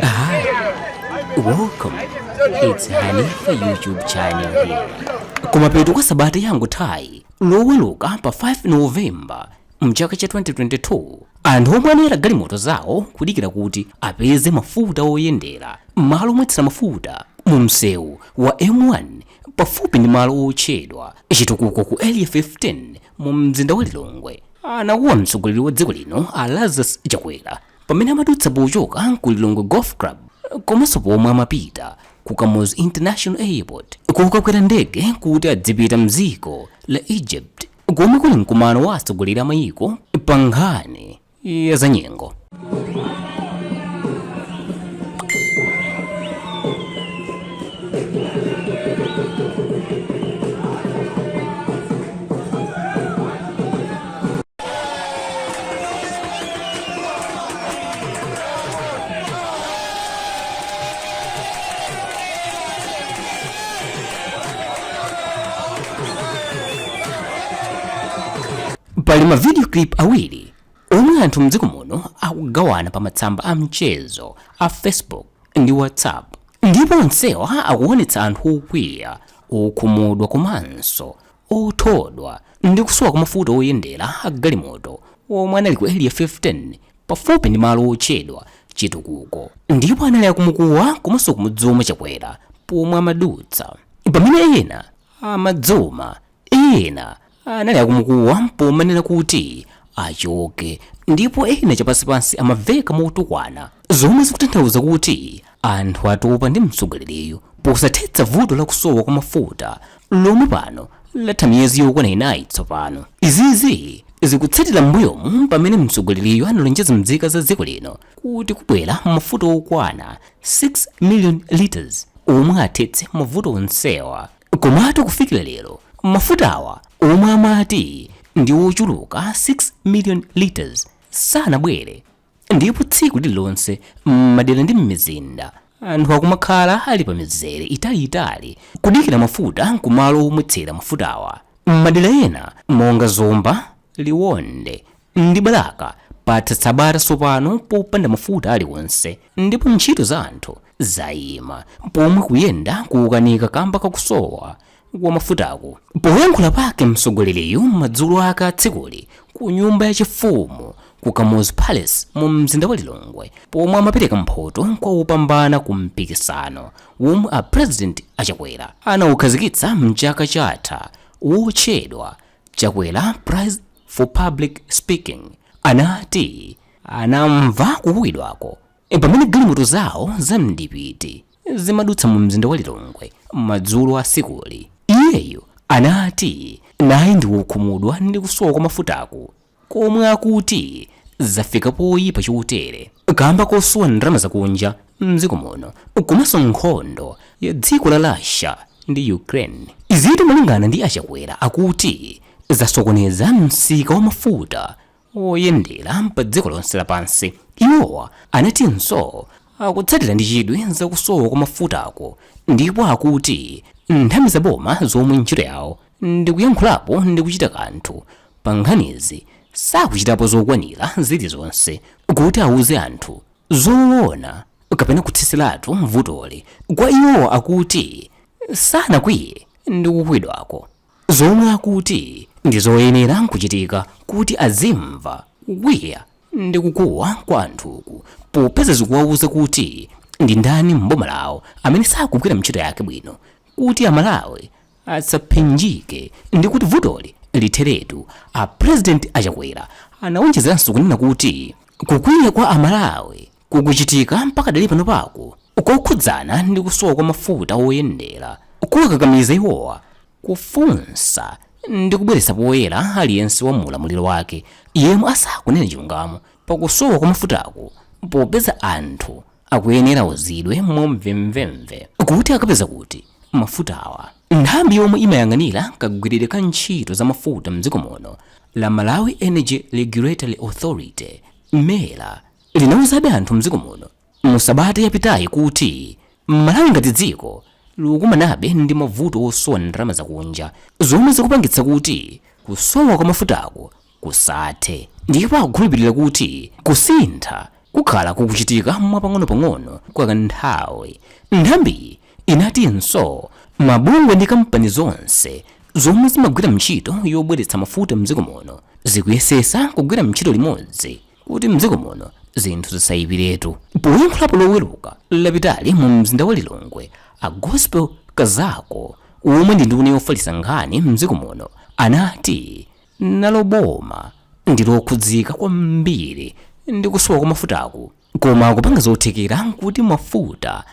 Hi, welcome. It's Hanifa YouTube channel here. Kumapeto kwa sabata yangothayi loweruka pa 5 Novemba mchaka cha 2022 anthu omwe anayala galimoto zawo kudikira kuti apeze mafuta oyendera m'malo omwetsera mafuta mu msewu wa M1 pafupi ndi malo otchedwa chitukuko ku area 15 mu mzinda wa Lilongwe anakuwa mtsogoleri wa dziko lino a Lazarus Chakwera pamene amadutsa pochoka ku lilongwe golf club komanso pomwe amapita ku kamuzu international airport kukakwera ndege kuti adzipita mdziko la egypt komwe kuli mkumano wa atsogoleri a mayiko pa nkhani ya zanyengo pali ma video clip awiri omwe anthu mdziko muno akugawana pa matsamba a mchezo a facebook ndi whatsapp ndipo onsewa akuonetsa anthu okwiya okhumudwa komanso othodwa ndi kusowa kwa mafuta oyendera a galimoto omwe anali ku Area 15 pafupi ndi malo otchedwa Chitukuko ndipo anali akumukuwa komanso kumudzuma Chakwera pomwe amadutsa. Pamene ena amadzuma, ena anali akumukuwa pomanena kuti achoke ndipo ena chapansipansi amaveka motukwana zomwe zikutanthauza kuti Anthu atopa ndi mtsogoleriyu posathetsa vuto la kusowa kwa mafuta lomwe pano latha miyezi yokwana inayi tsopano. Izizi zikutsatira m'mbuyomu pamene mtsogoleriyu analonjeza mzika za dziko lino kuti kubwera mafuta okwana 6 million litres omwe athetse mavuto onsewa. Komatu kufikira lero mafutawa omwe amati ndi ochuluka 6 million litres sanabwere. ndipo tsiku lililonse m'madera ndi m'mizinda anthu akumakhala ali pa mizere italiitali kudikira mafuta kumalo omwetsera mafutawa m'madera ena monga zomba liwonde ndi balaka patha sabata tsopano popanda mafuta aliwonse ndipo ntchito za anthu zayima pomwe kuyenda kukukanika kamba kakusowa wa mafutaku. Poyankhula pake mtsogoleriyu madzulo a tsikuli ku nyumba ya chifumu ku Kamuzu Palace mu mzinda wa Lilongwe pomwe amapereka mphoto kwa opambana ku mpikisano womwe a President a Chakwera anaukhazikitsa mchaka chatha wotchedwa Chakwera Prize for Public Speaking anati anamva kukuwidwako pamene galimoto zawo za mdipiti zimadutsa mu mzinda wa Lilongwe madzulo a tsikuli. Iyeyu anati naye ndi wokhumudwa ndi kusowa kwa mafutaku komwe akuti zafika poyipa chotere kamba kosowa ndalama zakunja mdziko muno komanso nkhondo ya dziko la Russia ndi Ukraine. Izitu malingana ndi a Chakwera akuti zasokoneza msika wa mafuta oyendera pa dziko lonse lapansi. Iwowa anatinso akutsatira ndi chidwi za kusowa kwa mafutako ndipo akuti nthambi za boma zomwe ntchito yawo ndi kuyankhulapo ndi kuchita kanthu pa nkhanizi sakuchitapo zokwanira zilizonse kuti auze anthu zoona kapena kuthetseratu vutoli. Kwa iwowa akuti sanakwiye ndi kukuwidwako. zomwe akuti ndi zoyenera kuchitika kuti azimva kukwiya ndi kukuwa kwa anthuku popeza zikuwauza kuti ndi ndani m'boma lawo amene sakugwira ntchito yake bwino kuti amalawi asaphinjike ndi kuti vutoli litheretu a president a Chakwera anawonjezeranso kunena kuti kukwiya kwa amalawi kukuchitika mpaka pakadali panopaku kokhudzana ndi kusowa kwa mafuta oyendera kuwakakamiza iwowa kufunsa ndi kubweretsa poyera aliyense wa mu ulamuliro wake yemwe asakunena chilungamo pakusowa kwa mafutaku popeza anthu akuyenera auzidwe mwamvemvemve kuti akapeza kuti mafutawa nthambi yomwe imayang'anira kagwiridwe ka ntchito za mafuta mdziko muno la malawi energy regulatory authority mera linauzabe anthu m'dziko muno mu sabata yapitayi kuti Malawi ngati dziko likukumanabe ndi mavuto osowa ndalama zakunja zomwe zikupangitsa kuti kusowa kwa mafutaku kusathe ndipo akukhulupilira kuti kusintha kukhala kukuchitika mwapang'onopang'ono kwa kanthawi. Nthambiyi inatinso mabungwe ndi kampani zonse zomwe zimagwira ntchito yobweretsa mafuta m'dziko muno zikuyesetsa kugwira ntchito limodzi kuti mdziko muno zinthu zisayipiretu poyankhulapo loweruka lapitali mu mzinda wa lilongwe a gospel kazako omwe ndi nduna yofalitsa nkhani mdziko muno anati nalo boma ndi lokhudzika kwambiri ndi kusowa kwa mafutaku koma likupanga zothekera kuti mafuta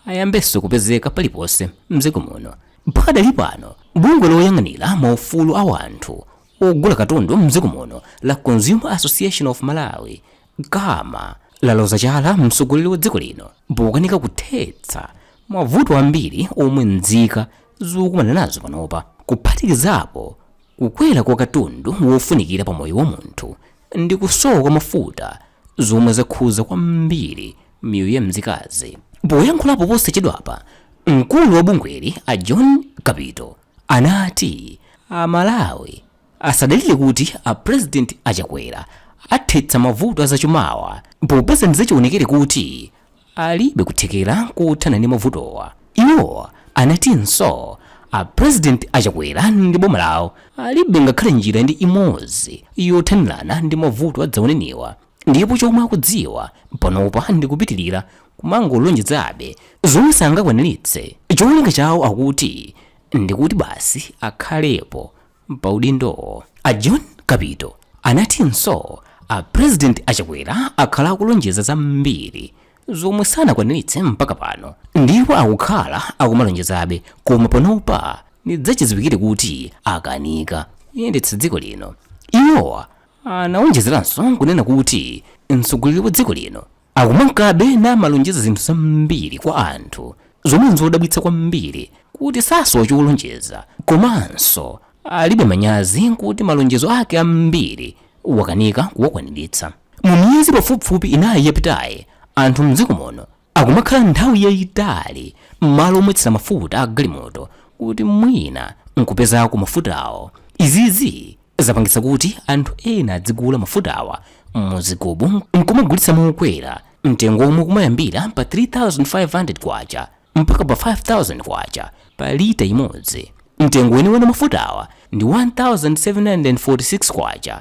ayambenso kupezeka paliponse mdziko muno pakadali pano bungwe loyang'anira maufulu a wanthu Ogula katundu m'dziko muno la Consumer Association of Malawi, Cama, laloza chala mtsogoleri wa dziko lino pokanika kuthetsa mavuto ambiri omwe nzika zikukumana nazo panopa, kuphatikizapo kukwera kwa katundu wofunikira pa moyo wa munthu ndi kusowa kwa mafuta zomwe zakhudza kwambiri miyoyo ya nzikazi. Poyankhulapo posachedwapa, mkulu wa bungweli a John Kapito, anati a Malawi asadalire kuti a President a Chakwera athetsa mavuto a zachumawa popeza ndizachionekere kuti alibe kuthekera kothana ndi mavutowa. Iwo anatinso a President a Chakwera ndi boma lawo alibe ngakhale njira ndi imodzi yothanirana ndi mavuto adzaoneniwa. Ndipo chomwe akudziwa panopa ndi kupitilira kumangolonjezabe zomwe sangakwaniritse. Cholinga chawo akuti ndi kuti basi akhalepo pa udindowo. A John Kapito anatinso a President a Chakwera akhala akulonjeza zambiri zomwe sanakwaniritse mpaka pano ndipo akukhala akumalonjezabe koma panopa ndizachidziwikire kuti akanika kuyendetsa dziko lino. Iwowa Anawonjezeranso kunena kuti mtsogoleri wa dziko lino akumankabe namalonjeza zinthu zambiri kwa anthu zomwe n'zodabwitsa kwambiri kuti sasowa cholonjeza komanso alibe manyazi kuti malonjezo ake ambiri wakanika kuwakwaniritsa. Mu miyezi pafupifupi inayi yapitayi, anthu m'dziko muno akumakhala nthawi yayitali m'malo omwetsera mafuta a galimoto kuti mwina nkupezako mafutawo. Izizi zapangitsa kuti anthu ena adzigula mafutawa mu zigubu nkumagulitsa mokwera mtengo omwe umayambira pa K3,500 mpaka pa K5,000 pa lita imodzi. Mtengo weniweni wa mafutawa ndi K1,746.